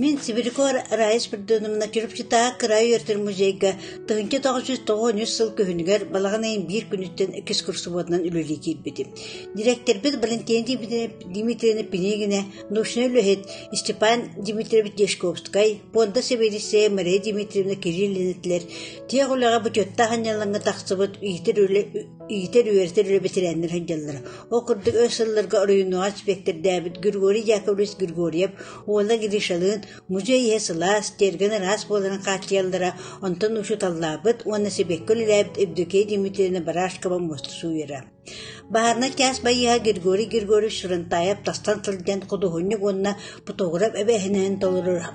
Мин Сибирякор Раис Придоновна Чурупчутаа кыраай өртөр музейга тыһынча тоғыз жүз тоҕон үс сыл күһүнүгэр балаҕан ыйын биир күнүттэн экскурсоводунан үлэлии киирбитим. Директорбыт Валентина Дмитриевна Пинигина, научной үлэһит Степан Дмитриевич Дешковскай, Пуонда сэбиэдиссэйэ Мария Дмитриевна Кириллин этилэр «Тиэх үлэҕэ бочуоттаах анньалаҥҥа тахсыбыт иитэр үлэ иитэр-үөрэтэр үлэ бэтэрээннэрэ сылдьаллара. Ол курдук өр сылларга оройуонугар испиэктэрдээбит Григорий Яковлевич Григорьев уонна Гришалыын музей иһэ сылаас, тиэргэн араас буоларын хааччыйаллара, онтон учууталлаабыт уонна сибэкки үлэлээбит Евдокия Дмитриевна Барашкова муоста сууйара. Баһаарынай кээс байыаһа Григорий Григорьевич Ширантаев тастан сылдьан худуоһунньук уонна фотограф эбээһинэһин толороро,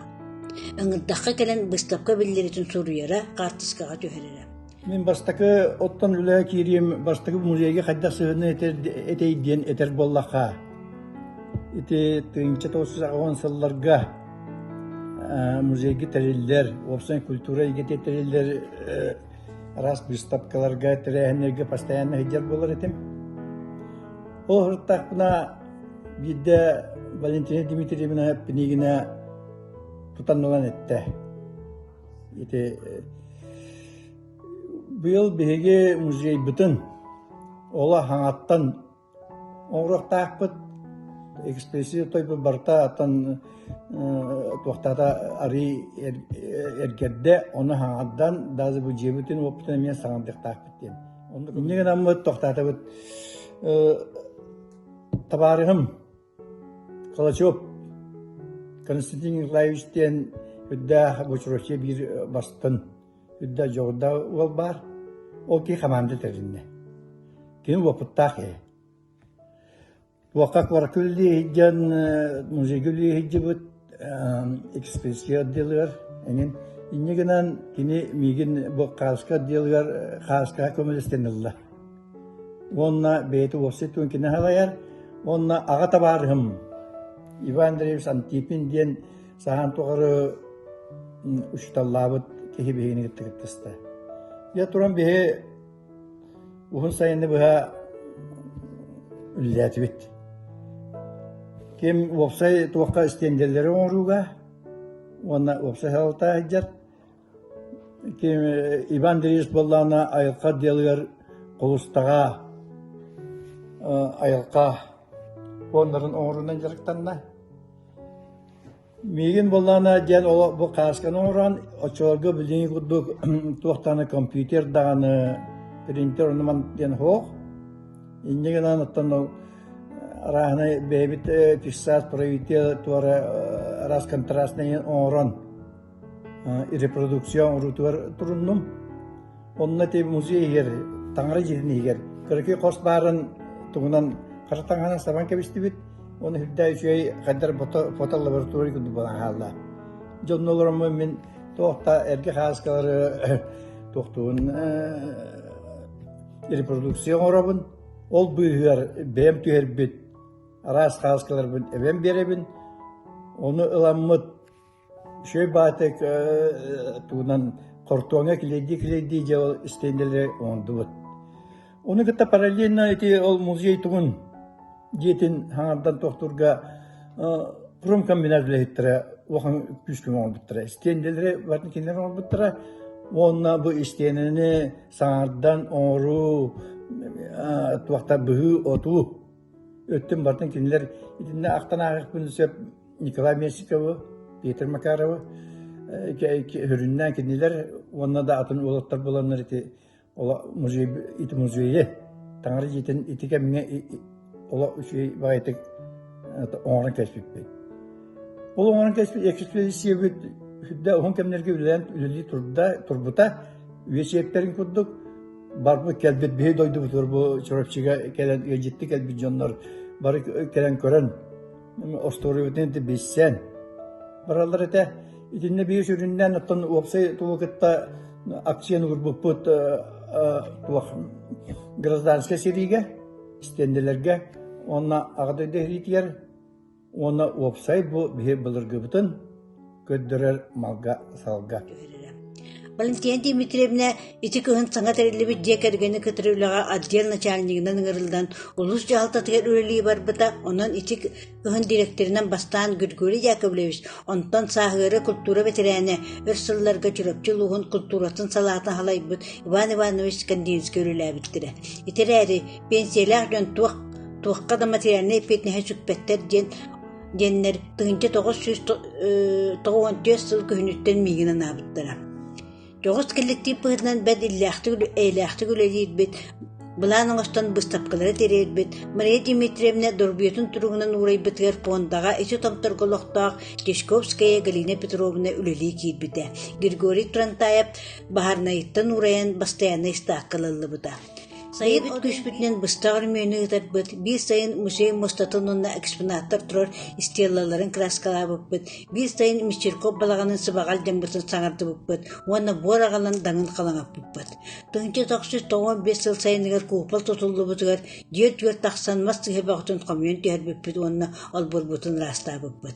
ыҥырдахха кэлэн быыстапка биллэриитин суруйара, хаартыскаҕа түһэрэрэ. Мин бастакы оттон үлэҕэ киириим бастакы музейга хайдах сыһыаны этэй диэн этэр буоллахха, ити тыһыынча тоҕус жүз аҕыан сылларга музейга тэриллэр, уопсай культура эйгэтэ тэриллэр араас быыстапкаларга, тэрээһиннэргэ постоянно сылдьар буолар этим. Ол сырыттахпына биирдэ Валентина Дмитриевна эппинигинэ тутан ылан эттэ. Ити быйыл биһиги музейбытын ола хаҥаттан Оҥоруохтаахпыт, экспедиция тойбут барыта оттон туохтаата арыый эргэрдэ, ону хаҥардан, даже бу дьиэбитин уопутун эмиэ саҥардыахтаахпыт диэн. Инньэ гынаммыт, тохтаатыбыт. Табаарыһым Калачев Константин Николаевич диэн үрдээх бочуруочуйа биир бастын үрдэ дьоҕурдаах уол баар. Ол киһи хамаанда тэриннэ. Кини уопуттаах киһи. Туохха куоракка үлэлиэ сылдьан, музейга үлэлиэ сылдьыбыт, экспрессия отделыгар эҥин инньэ гынан кини миигин бу хааска отделыгар хааскаҕа көмөлөстөнүллэ уонна бэйэтэ уопсай туон кини халайар уонна аҕа табаарыһым Иван Андреевич Антипин диэн саһан тухары учуталлаабыт киһи биһигини кытта кыттыста я туран биһи Уһун сайыны быһа үллээтибит. Ким уопсай туохха стендэлэри оҥорууга уонна уопсай салалта сылдьар, ким Иван Андреевич буоллаҕына айылҕа отделыгар кулустаҕа, айылҕа фондарын оҥоруунан дьарыктанна. Миигин буоллаҕына диэн ол бу хаасканы оҥорон оччолорго билиҥҥи курдук туохтааны компьютер даҕаны, принтер оннуман диэн суох. Инньэ гынан оттон арааһынай бэйэбит фиксаат правитель туора раз контрастнайы оҥорон репродукция оҥоруутугар туруннум. Онно ти музей иһигэр, таҥара дьиэтин иһигэр көрөкүй хос баарын тугунан хара таҥаһынан сабан кэбистибит. Оны үрдээ үчүгэй хайдар фото лаборатория курдук болан хаалла. Дьонно олороммун мин туохта эргэ хааскалары туохтуун репродукция оҥоробун. Ол быыһыгар бэйэм түһэрбит араас хааскаларбын эбэм биэрэбин. Оны ыламмыт Үчүгэй баатык тугунан хортуоҥҥа килиэйдии-килиэйдии дьэ ол истиэндэлэри оҥордубут. Ону кытта параллельно ити ол музей тугун дьиэтин хаҥардан туохтуурга промкомбинат үлэһиттэрэ улахан күүскэ оҥорбуттара. Истиэндэлэри барын кинилэр оҥорбуттара уонна бу истиэнэни саҥардан оҥоруу туохтар быһыы-отуу Өттүн бартын кинилэр итиннэ ахтан ааҕыахпын сөп Николай Менщикову, Петр Макарову өрүннээн кинилэр уонна да атын уолаттар буланнар ити музей ити музейы таҥара дьиэтин ити кэмҥэ оло үчүгэй баҕайытык оҥорон кэспиппит. Ол оҥорон кэспит экспедициябыт үрдэ уһун кэмнэргэ үлэлээн үлэлии турда, турбута, үйэ сиэптэрин курдук барбыт кэлбит биһи дойдубутугар бу Чурапчыга кэлэн ыалдьытты кэлбит дьоннор бары кэлэн көрөн остуоруйбутун билсэн бараллар этэ итиннэ биир сүрүннэн оттон уопсай тулу кытта акцияны урбуппут туох гражданскай сэриигэ истиэннэлэргэ онна аҕа дойду иһитигэр уонна уопсай бу биһи былыргыбытын көрдөрөр малга-салга. Валентина Дмитриевна ити кыһын саҥа тэриллибит дьиэ кэргэни кытары үлэҕэ отдел начальнигынан ыҥырыллан улуус дьаһалтатыгар үлэлии барбыта, онон ити кыһын дириэктэринэн бастаан Григорий Яковлевич, онтон сааһыары култуура бэтэрээнэ, өр сылларга Чурапчы улууһун култууратын салаатын халайбыт Иван Иванович Скандинский үлэлээбиттэрэ. Ити эрээри пенсиялаах дьон туох туохха да материальнай эппиэтинэһи сүкпэттэр диэн диэннэр тыһыынча тоҕус сүүс тоҕус уон түөрт сыл күһүнүттэн миигин анаабыттара. Дьоҕус кэлликтиип быһыытынан бэрт иллээхтик эйэлээхтик үлэлиирбит, былаан оҥостон быыстапкалары тириэрбит Мария Дмитриевна дорбуйатын туругунан уурайбытыгар пуондаҕа ити тобторго олохтоох Чешковская Галина Петровна үлэлии киирбитэ. Григорий Трантаев баһаарнайыттан уурайан бастайаннай ыстаакка ыллыбыта. Сайын от күүспүтүнэн быстах өрөмүөнү ыытарбыт, биир сайын музей мустатын уонна экспонаттар турар стеллаларын краскалаабыппыт, биир сайын Мещерков балаҕанын сыбаҕал дьоммутун саҥардыбыппыт уонна буор аҕалан данын халаҥаппыппыт. Тыһыынча тахсыт тоҕуон биэс сыл сайыныгар кууппал тутуллубутугар дьиэ өтүгэр тахсан мас сыһыабаҕытын хомуйан түһэрбиппит уонна олбурбутун ыраастаабыппыт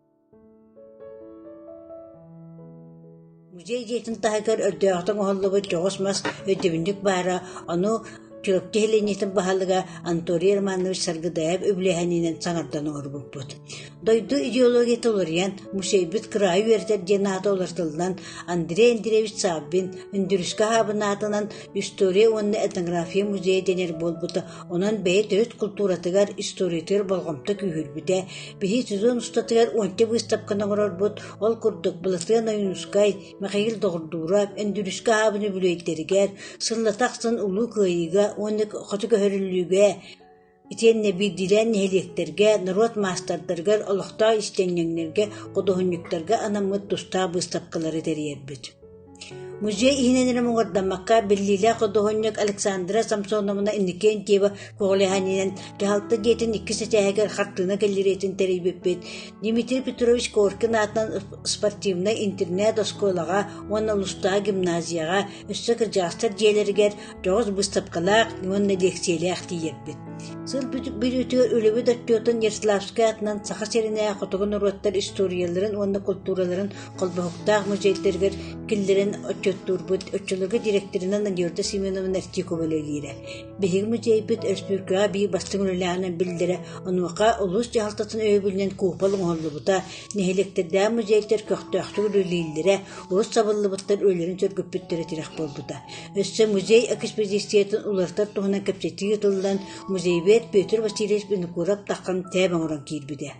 Музей дьиэтин таһыгар өрдөөҕүтэ оҥоһуллубут дьоҕус мас өйдөбүнньүк баара, ону Чурапчы сэлиэнньэтин баһылыга Анатолий Романович Саргыдаев үбүлээһининэн саҥардан оҥорбуппут. Дойду идеологията уларыйан, музейбыт кыраайы үөрэтэр диэн аата уларытыллан, Андрей Андреевич Саввин Үндүрүскэ хаабын аатынан «История уонна этнография музейа» дэнэр буолбута, онон бэйэ төрүт култууратыгар, историятыгар болҕомто күүһүрбүтэ, Биһи сезон устатыгар уонча быыстапканы оҥорорбут, ол курдук Былатыан Ойуунускай, Мэхэйил Доҕордуура, Өндүрүскэ аһаабын үбүлүөйдэригэр, сыллата ахсын Улуу Кыайыыга уонна Хоту көһөрүллүүгэ итиэннэ биирдиилээн нэһилиэктэргэ, норуот маастардарыгар, олохтоох истиэнньэҥнэргэ, худуоһунньуктарга анаммыт тустаах быыстапкалары тэрийэрбит. Музей иһинэн эрэ муҥурдаммакка, биллиилээх худуоһунньук Александра Самсоновна Иннокентьева көҕүлэһиинэн кыһалта дьиэтин иккис этээһигэр хартыына кэллэриэтин тэрийбиппит, Дмитрий Петрович Коркин аатынан спортивнай интернат-оскуолаҕа уонна Лустаа гимназияҕа өссө кырдьаҕастар дьиэлэригэр дьоҕус быыстапкалаах уонна лиэксийэлээх тиийэрбит. Сыл бүтүүтүгэр үлэбит отчуотун Ярославскай аатынан Саха сиринээҕи хотугу норуоттар историяларын уонна култуураларын Холбоһуктаах музейдэригэр киллэрэн отчуоттуурбут оччолорго дириэктэринэн Надежда Семеновна Артикова үлэлиирэ. Биһиги музейбыт өрөспүүбүлүкэҕэ биир бастыҥ үлэлээҕинэн биллэрэ, онуоха улуус дьаһалтатын өйөбүлүнэн куупал оҥоһуллубута, нэһилиэктэрдээх музейдэр көхтөөхтүк үлэлииллэрэ, урут сабыллыбыттар үлэлэрин сөргүппүттэрэ тирэх буолбута. Өссө музей экспедициятын уларытар туһунан кэпсэтии ыытыллан, музейбет Петр Васильевич Винокуров-Таххан тээб оҥорон киирбитэ.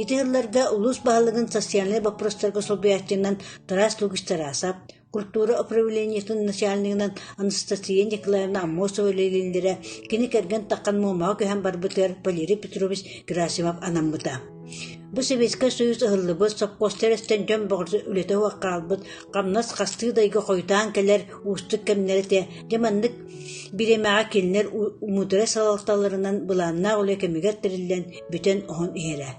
Ити сылларга улуус баһылыгын социальнай боппуруостарга солбуйааччытынан Тараас Лугич-Тарасов, культура управлениетын начальнигынан Анастасия Николаевна Аммосова үлэлииллэрэ, кини кэргэн таххан Муомаҕа көһөн барбытыгар Валерий Петрович Герасимов анаммыта. Бу Советскай Союз ыһыллыбыт, сопхуоста эрэстэн дьон бөҕөрсө үлэтэ уһуох хаалбыт, хамнас хастыы дайга хойутаан кэлэр уустук кэмнэр этэ, дьэ маннык бириэмэҕэ кинилэр умутара салалталарынан былааннаах үлэ кэмигэр тэриллэн, бүтэн оһон иһэрэ.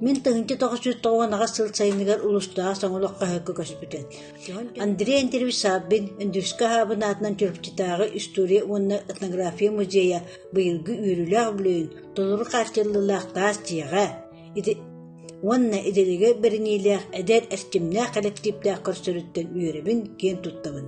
Мин тыһынча тоҕус жүз тоҕуонаҕа сыл сайыныгар улустааҕы соҥолох хаһыакка көспүтэн. Андрей Андреевич Савбин Үндүскэ аһаабын аатынан Чурапчытааҕы история уонна этнография музейа быйылгы үөрүүлээх бүлөйүн толору хааччыллыылаах таас дьиэҕэ уонна идэлигэ бэриниилээх эдэр эрчимнээх кэлэктииптээх көрсөрүттэн үөрэбин киэн туттабын.